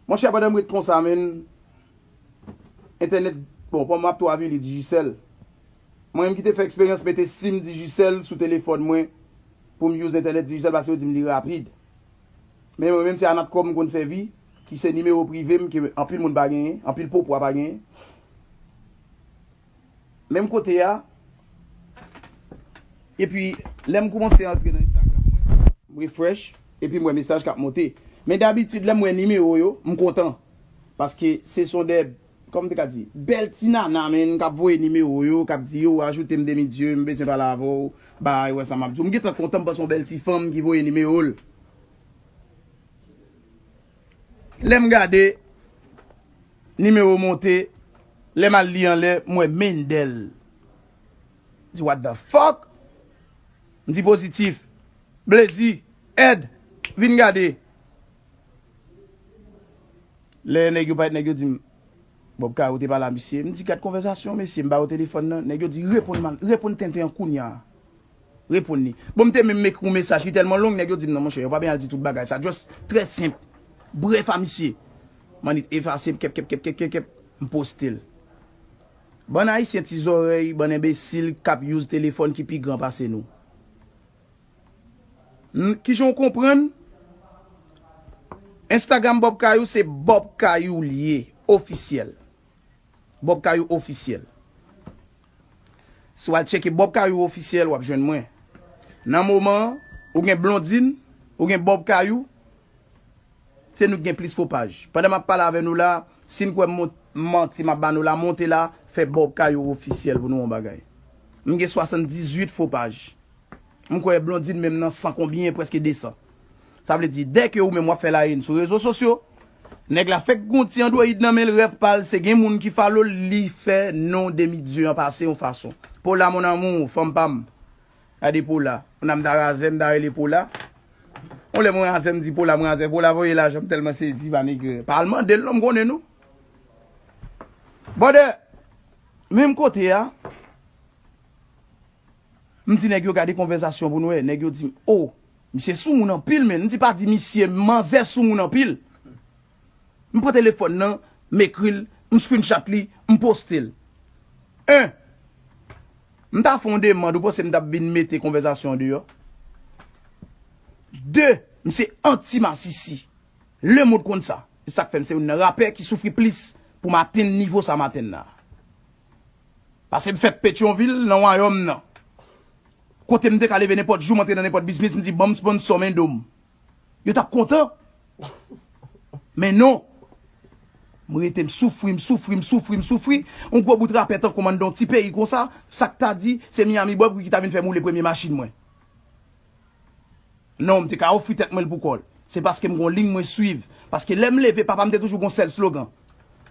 Mon chè pandan m ret konsa menn entènèt bon kòm map tou avili Digicel mwen menm ki te fè eksperyans mete sim Digicel sou telefòn mwen pou m use entènèt Digicel paske yo di m li rapid men mwen menm se a Natcom m konn sèvi ki se nimewo prive m ke anpil moun pa genyen anpil popwa pa genyen. Menm kote a. Epi lèm koumanse antre nan Instagram mwen. M refresh epi m wè mesaj kap monte. Men dabitid lèm wè nimewo yo m kontan. Paske se son de kòman m te ka di bèl ti nana menn kap voye nimewo yo kap di yo ajoute m demi dieu m bezwen pale avè w bay wè sa map di w. M gentan kontan m panse son bèl ti fanm ki voye nimewo l. Lèm gade Nimewo monte lèm al li anlè m wè Mendel m di what the fuck m di Positif Blazy Ed vin gade lè nèg yo parèt nèg yo dim Bob Kay ou te pa la mesye m di gad konvèzasyon mesye m ba yo telefòn nan nèg yo di reponn tenten an kounya. Reponn li. Bon m te menm ekri yon mesaj li tèlman long nèg yo di m nan monchè yo pa byen al di tout bagay sa just trè senp brèf a misye m annik t efase m kèpkèpkèpkèpkèp m poste l Bann ayisyen ti zòrèy bann enbesil k ap use telefòn ki pi gran pase nou N kijan w konprann Instagram Bob Kayou se Bob Kayou l ye ofisyèl Bob Kayou ofisyèl. Si w al tcheke Bob Kayou Officiel, w ap jwenn mwen. Nan moman an, ou gen Blondine, ou gen Bob Kayou, se nou ki gen plis kopaj. Pandan m ap pale avè nou la, si n kwè m manti m ap ba nou la, monte la, fè Bob Kayou Officiel pou nou yon bagay. M gen 78 fo paj. M kwè Blondine menm nan 100 konbyen, prèske 200. Sa vle di, dè ke ou menm wap fè la haine sou rezo sosyo, nèg la fèk gon ti android nan menl rèv pal se gen moun ki follow l li fè non demi dieu an pase yon fason. Pola mon amour, fanm pam. Gade Pola. Moun nan m ta razè, m ta rele Pola. Yon lè mwen razè m di Pola m razè. Pola voye lajan m tèlman sezi pa negrè. Pa al mandel non m konnen nou. Brother, menm kote a. M di nèg yo gade konvèzasyon pou n wè, nèg yo di m o, misye sou moun anpil menn, m di pa di misye, manzè sou moun anpil. M pran telefòn nan, m ekri l, m screenshot li, m poste l. 1, M ta fè yon demand, ou panse m t ap vin mete konvèzasyon an deyò? 2, M se anti masisi. Lemond konn sa. Se sa k fè m se youn nan rapè ki soufri plis pou m atenn nivo sa m atenn la a. Pase m fè Petyonvil nan wayòm nan. Kote m te ka leve nenpòt jou m antre nan nenpòt biznis m di banm sponsò men do m. Yo t ap kontan. Men non. M rete m soufri, m soufri, m soufri, m soufri. Yon gwo bout rapè tankou m anndan yon ti peyi konsa, sa k ta di se Miyami Bòb ki ta vin fè m woule premye machin mwen. Non, m te ka ofri tèt mwen l pou kò l. Se paske m gen yon liy mwen suiv. Paske lè m leve, papa m te toujou gen yon sèl slogan,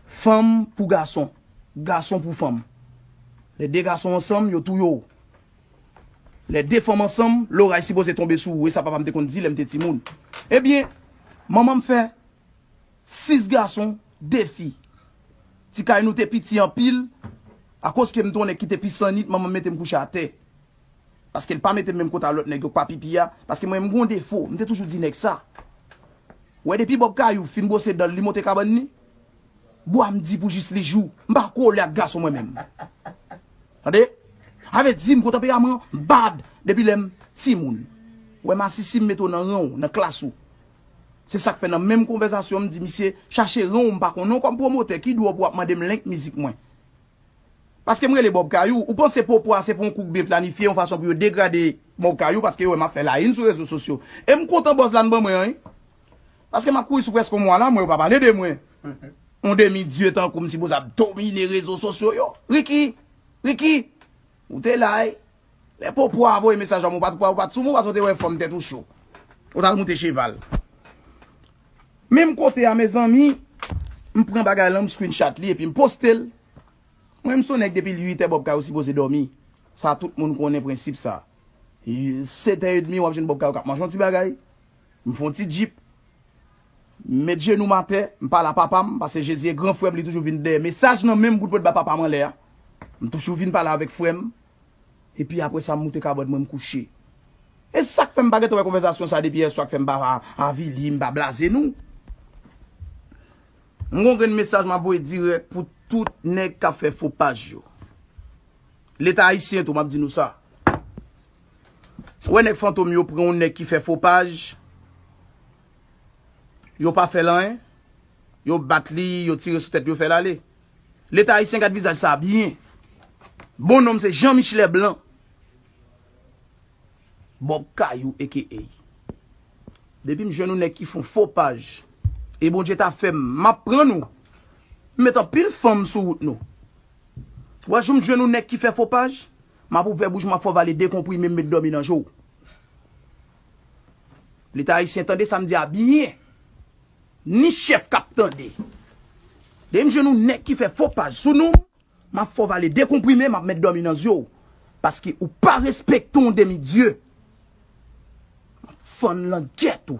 Fanm pou gason, gason pou fanm. Lè de gason ansanm, yo touye w. Lè de fanm ansanm, loray sipoze tonbe sou ou. E sa papa m te konn di lè m te timoun. Ebyen, manman m fè sis gason, de fi. Ti kay nou te piti anpil. Akoz ke m te yon nèg ki te pi san nit, manman m mete m kouche atè. Paske l pa mete m menm kote a lòt nèg yo k pa pipi a. Paske mwen m gon defo. M te toujou di nèg sa. Ou wè depi Bob Kayou fin bwose dan l li monte kabann li. Bwa m di pou jis li jou. M pa kole ak gason mwen menm. Tande. Sa vle di m gon tanperaman bad depi lè m timoun. Ou wè masisi m mete w nan ran w, nan klas ou. Se sa k fè nan menm konvèzasyon m di misye chache ran w m pa konnen w kòm pwomotè ki dwè w pou w ap mande m link mizik mwen. Paske m rele Bob Kayou, ou panse poupwa se pou yon kou kbe planifye yon fason pou yo degrade Bob Kayou paske yo wè m ap fè layin sou rezo sosyo. E m kontan buzz la n ban mwen an wi. Paske m ap kouri sou prèske yon mwa la, mwen yo pa pale de mwen. Yon demi dye tankou m sipoze ap domine rezo sosyo yo. Ricky! Ricky! Ou te la wi. Lè poupwa voye mesaj ba mwen ou pa t kwè, ou pa t sou mwen paske ou te wè fòm tèt ou cho. Ou t al moute cheval. Menm kote a mezanmi m pran bagay lan m screenshot li epi m poste l mwen m son nèg depi l 8 è Bob Kayo sipoze dòmi sa tout moun konnen prensip sa 7 è edmi wap jwenn Bob Kayo kap manje yon ti bagay m fon ti djip m met jenou m atè m pale a papa m pase Jezi e gran frè m li toujou vin dèyè mesaj nan men m pou l pot ba papa m anlè a m toujou vin pale avèk frè m Epi apre sa m moute kabòd mwen m kouche. E sak fè m pa gentan wè konvèzasyon sa depi yèswa k fè m pa avili, m pa blaze nou? M gon grenn mesaj m ap voye dirèk pou tout nèg k ap fè fo paj yo. Leta ayisyen tou m ap di nou sa. Wè nèg fantom yo pran yon nèg ki fè fo paj, yo pa fè l anyen, yo bat li, yo tire sou tèt li yo fè l ale. Leta ayisyen gad vizaj sa byen. Bon nom se Jean Michelet Blanc. Bob Kayou aka. Depim jwenn yon nèg ki fon fo paj e Bondye ta fèm map pran nou. M met anpil fanm sou wout nou. Wa joum jwenn yon nèg ki fè fo paj, map ouvè bouch map fè w vale 2 konprime m met dòmi nan je w. Leta ayisyen tande sam di a byen. Ni chèf kap tande. Depi m jwenn yon nèg ki fè fo paj sou nom map fè w vale 2 konprime map met dòmi nan zye w paske ou pa respekte yon demi dye map fann langèt ou.